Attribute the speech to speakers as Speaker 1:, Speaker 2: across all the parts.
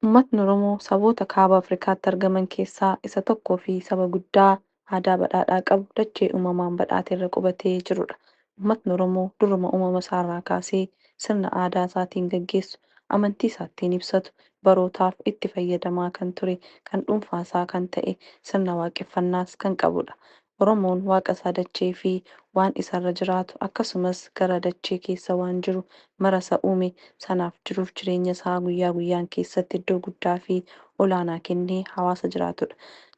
Speaker 1: Ummatni Oromoo saboota Kaaba Afrikaatti argaman keessaa isa tokkoo fi saba guddaa aadaa badhaadhaa qabu dachee uumamaan badhaate irra qubatee jiru dha. Ummatni Oromoo duruma uumama isaa irraa kaasee sirna aadaa isaatiin gaggeessu, amantii isaa ittiin ibsatu, barootaaf itti fayyadamaa kan ture, kan dhuunfaa isaa kan ta'e, sirna waaqeffannaas kan qabu dha. Oromoon Waaqa isaa dachee fi waan isa irra jiraatu akkasumas gara dachee keessa waan jiru mara isa uume sanaaf jiruuf jireenya isaa guyyaa guyyaan keessatti iddoo guddaa fi olaanaa kennee hawaasa jiraatudha.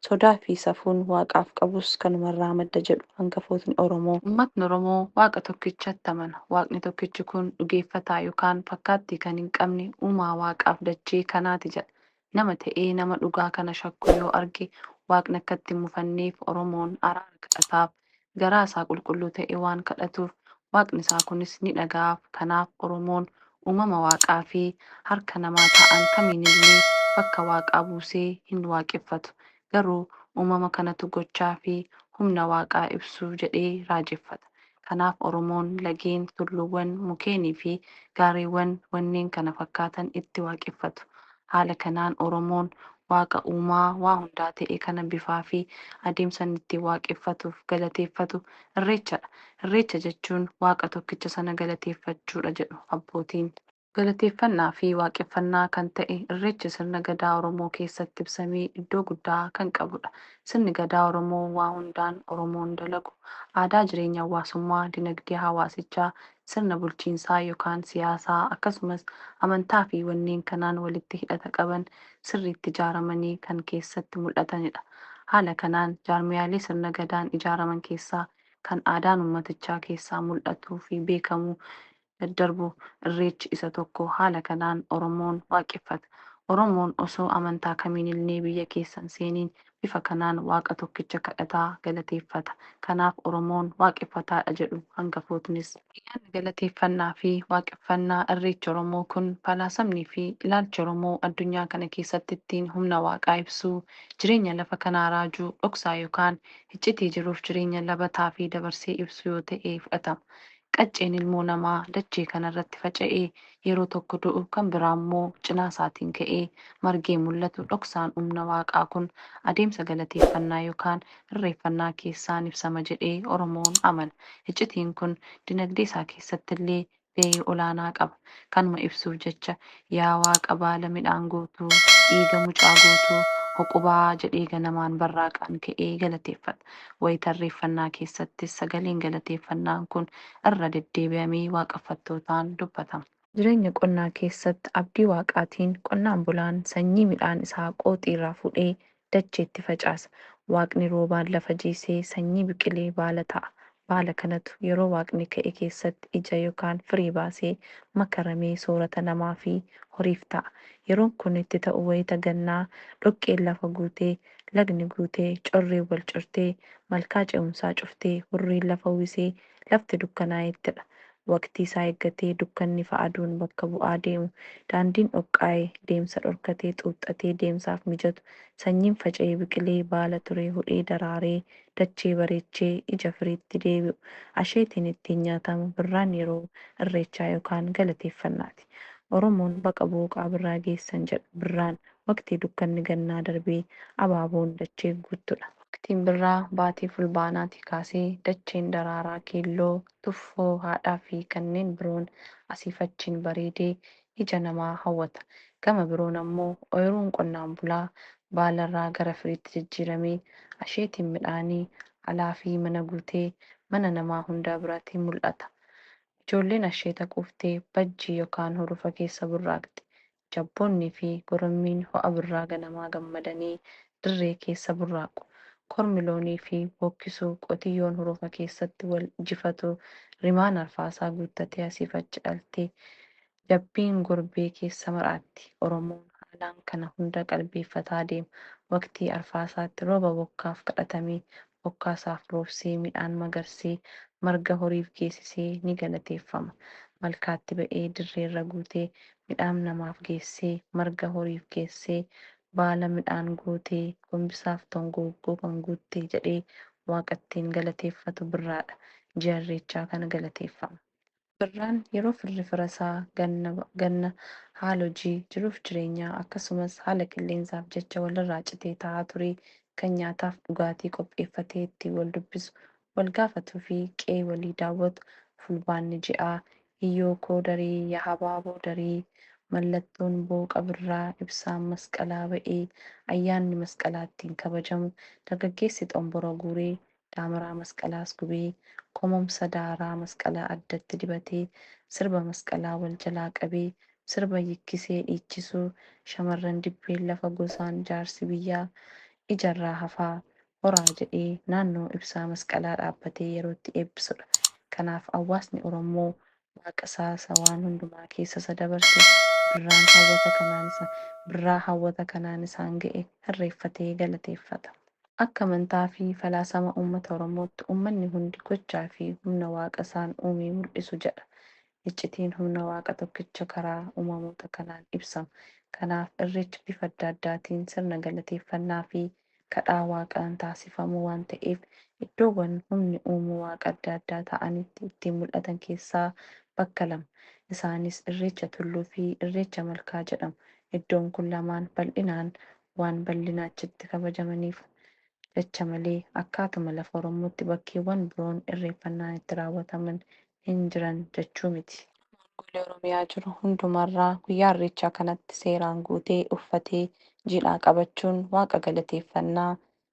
Speaker 1: Sodaa fi safuun Waaqaaf qabus kanuma irraa madda jedhu hangafootni Oromoo. Ummatni Oromoo Waaqa tokkichatti amana. Waaqni tokkichi kun dhugeeffataa yokaan fakkaattii kan hin qabne uumaa Waaqaaf dachee kanaati jedha. nama ta'ee nama dhugaa kana shakku yoo arge waaqni akka itti hin mufanneef oromoon araara kadhataaf garaa isaa qulqulluu ta'e waan kadhatuuf waaqni isaa kunis ni dhaga'aaf kanaaf oromoon uumama waaqaa fi harka namaa ta'an kamiinillee bakka waaqaa buusee hin waaqeffatu Garuu uumama kanatu gochaa fi humna Waaqaa ibsu jedhee raajeffata. Kanaaf Oromoon lageen, tulluuwwan, mukeenii fi gaarreewwan wanneen kana fakkaatan itti waaqeffatu. Haala kanaan Oromoon Waaqa uumaa waa hundaa ta'e kana bifaa fi adeemsa inni ittiin waaqeffatuuf galateeffatu Irreecha dha. Irreecha jechuun Waaqa tokkicha sana galateeffachuu dha jedhu abbootiin. Galateeffannaa fi waaqeffannaa kan ta'e Irreechi sirna Gadaa Oromoo keessatti ibsamee iddoo guddaa kan qabudha. Sirni Gadaa Oromoo waa hundaan Oromoon dalagu, aadaa jireenya hawwaasummaa, dinagdee hawaasichaa, sirna bulchiinsaa yokaan siyaasaa akkasumas amantaa fi wanneen kanaan walitti hidhata qaban sirriitti ijaaramanii kan keessatti mul'atanidha. Haala kanaan jaarmiyaalee sirna Gadaan ijaaraman keessaa kan aadaan ummatichaa keessaa mul'atuu fi beekamu daddarbu. Irreechi isa tokko. Haala kanaan Oromoon waaqeffata. Oromoon osoo amantaa kamiinillee biyya keessa hin seeniin bifa kanaan Waaqa tokkicha kadhata, galateeffata. Kanaaf Oromoon waaqeffataadha jedhu hangafootnis. Ayyaanni galateeffannaa fi waaqeffannaa Irreechi Oromoo kun falaasamnii fi ilaalchi Oromoo addunyaa kana keessatti ittiin humna Waaqaa ibsuu, jireenya lafa kanaa raajuu, dhoksaa yookaan hiccitii jiruuf jireenya labataa fi dabarsee ibsuu yoo ta'e fudhatama. Qacceen ilmoo namaa dachee kana irratti faca'ee yeroo tokko du'u kan biraa immoo cinaa isaatiin ka'ee margee mul'atu dhoksaan umna waaqaa kun adeemsa galateeffannaa yokaan irreeffannaa keessaan ibsama jedhee Oromoon amana. Iccitiin kun dinagdee isaa keessatti illee gahee olaanaa qaba. Kanuma ibsuuf jecha Yaa Waaqa baala midhaan guutuu, dhiiga mucaa guutuu, huqubaa jedhee ganamaan barraaqaan ka'ee galateeffata. Wayita irreeffannaa keessattis sagaleen galateeffannaan kun irra deddeebi'amee waaqeffattootaan dubbatama. Jireenya qonnaa keessatti abdii Waaqaatiin qonnaan bulaan sanyii midhaan isaa qooxii irraa fuudhee dacheetti facaasa. Waaqni roobaan lafa jiisee sanyii biqilee baala ta'a. Baala kanatu yeroo Waaqni ka'e keessatti ija yokaan firii baasee makaramee soorata namaa fi horiif ta'a. Yeroon kun itti ta'u wayita gannaa dhoqqeen lafa guutee, lagni guutee, correen wal cortee, malkaa ce'umsaa cuftee, hurriin lafa uwwisee lafti dukkanaayettidha. Waqtii isaa eeggatee dukkanni fa aduun bakka bu'aa deemu. Daandiin dhoqqaa'e, deemsa dhorkatee, xuuxxatee, deemsaaf mijatu. Sanyiin faca'ee biqilee, baala turee, hudhee daraaree, dachee bareechee, ija firiitti deebi'u. Asheetiin ittiin nyaatamu birraan yeroo Irreechaa yookaan galateeffannaati. Oromoon baqa booqaa birraa geessan jedha. Birraan waqtii dukkanni gannaa darbee abaaboon dachee guuttudha. Waqtiin birraa baatii Fulbaanaatii kaasee dacheen daraaraa keelloo, tuffoo, haadhaafi kanneen biroon asiif achiin bareedee ija namaa hawwata. Gama biroon ammoo oyiruun qonnaan bulaa baalarraa gara firiitti jijjiiramee, asheetiin midhaanii alaafi mana guutee mana namaa hundaa birati mul'ata. Ijoolleen asheeta quuftee bajjii yokaan hurufa keessa burraaqxi. jabboonnii fi gorommiin ho'a birraa ganamaa gammadanii dirree keessa burraaqu. Kormi loonii fi bookkisu, qotiyyoon hurufa keessatti wal jifatu, rimaan arfaasaa guuttatee asiif achi dhalti, jabbiin gorbee keessa mar'atti. Oromoon haalaan kana hunda qalbeeffataa deema. Waqtii arfaasaatti rooba bokkaaf kadhatamee bokkaa isaaf roobsee midhaan magarsee marga horiif geessisee ni galateeffama. Malkaatti ba'ee dirree irra guutee midhaam namaaf geessee marga horiif geessee baala midhaan guutee gombisaaf tongooggoo kan guutte jedhee Waaqa ittiin galateeffatu birraadha. Ji'a Irreechaa kana galateeffama. Birraan yeroo firri firasaa ganna ganna haala hojii, jiruuf jireenyaa akkasumas haala qilleensaaf jecha walirraa citee taa'aa ture kan nyaataaf dhugaatii qopheeffatee ittiin waldubbisu, walgaafatuufi qe'ee walii daawwatu Fulbaanni ji'a Hiyyookoo darii yaa habaaboo darii mallattoon booqa birraa ibsaan masqalaa ba'ee ayyaanni masqalaa ittiin kabajamu dargaggeessi xonbora guuree daamaraa masqalaas gubee, komomsa daaraa masqalaa addatti dibatee, sirba masqalaa wal jalaa qabee, sirba yikkisee dhiichisuu, shamarran dibbeen lafa gosaan jaarsi biyyaa ijarraa hafaa, horaa jedhee naannoo ibsaa masqalaa dhaabbatee yerootti eebbisudha. Kanaaf awwaasni Orommoo Waaqa isaa isa waan hundumaa keessa isa dabarse, birraan hawwata kanaan isa, birraa hawwata kanaan isaan ga'e hirreeffatee galateeffata. Akka amantaa fi falaasama uummata Oromootti uummanni hundi gochaa fi humna Waaqa isaan uumee mul'isu jedha. Iccitiin humna Waaqa tokkicha karaa uumamoota kanaan ibsama. Kanaaf Irreechi bifa adda addaatiin sirna galateeffannaa fi kadhaa Waaqaan taasifamu waan ta'eef iddoowwan humni uumuu Waaqa adda addaa ta'anitti ittiin mul'atan keessaa bakka lama. Isaanis Irreecha Tulluu fi Irreecha Malkaa jedhamu. Iddoon kun lamaan bal'inaan waan bal'ina achitti kabajamaniif jecha malee akkaatuma lafa Oromootti bakkeewwan biroon irreeffannaan itti raawwataman hin jiran jechuu miti. Naannolee Oromiyaa jiru hundumarraa guyyaa Irreechaa kanatti seeraan guutee, uffatee, jiidhaa qabachuun Waaqa galateeffanna,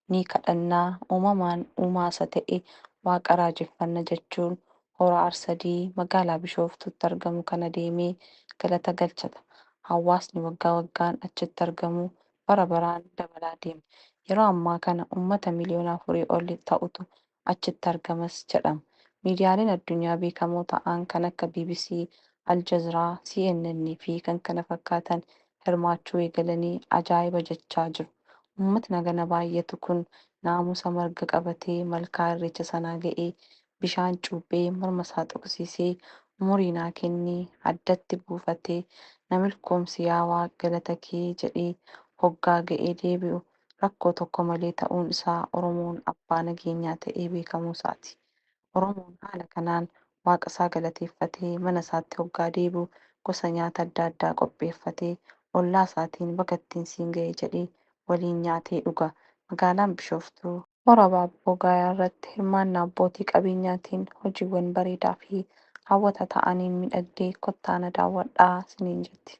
Speaker 1: ni kadhanna, uumamaan uumaa isa ta'e Waaqa raajeffanna jechuun Hora Arsadii magaalaa Bishooftuutti argamu kana deemee galata galchata. Hawaasni waggaa waggaan achitti argamu bara baraan dabalaa deema. Yeroo ammaa kana uummata miliyoona afurii ol ta'utu achitti argamas jedhama. Miidiyaaleen addunyaa beekamoo ta'aan kan akka bbc, Al Jazra, CNN fi kkf hirmaachuu eegalanii ajaa'iba jechaa jiru. Ummatni hagana baay'atu kun naamusa marga qabatee malkaa irreecha sanaa ga'ee bishaan cuuphee morma isaa xoqsiisee umurii naa kenni addatti buufatee na milkoomsi yaa waaq galata kee jedhee hoggaa ga'ee deebi'u rakkoo tokko malee ta'uun isaa Oromoon abbaa nageenyaa ta'ee beekamuu isaati. Oromoon haala kanaan Waaqa isaa galateeffatee mana isaatti hoggaa deebi'u gosa nyaata adda addaa qopheeffatee ollaa isaatiin baga ittiin siin gahe jedhee waliin nyaatee dhuga. Magaalaan Bishooftuu. Hora Baabboo Gaayaa irratti hirmaannaa abbootii qabeenyaatiin hojiiwwan bareedaa fi hawwata ta'aniin midhagdee kottaa na daawwadhaa siniin jetti.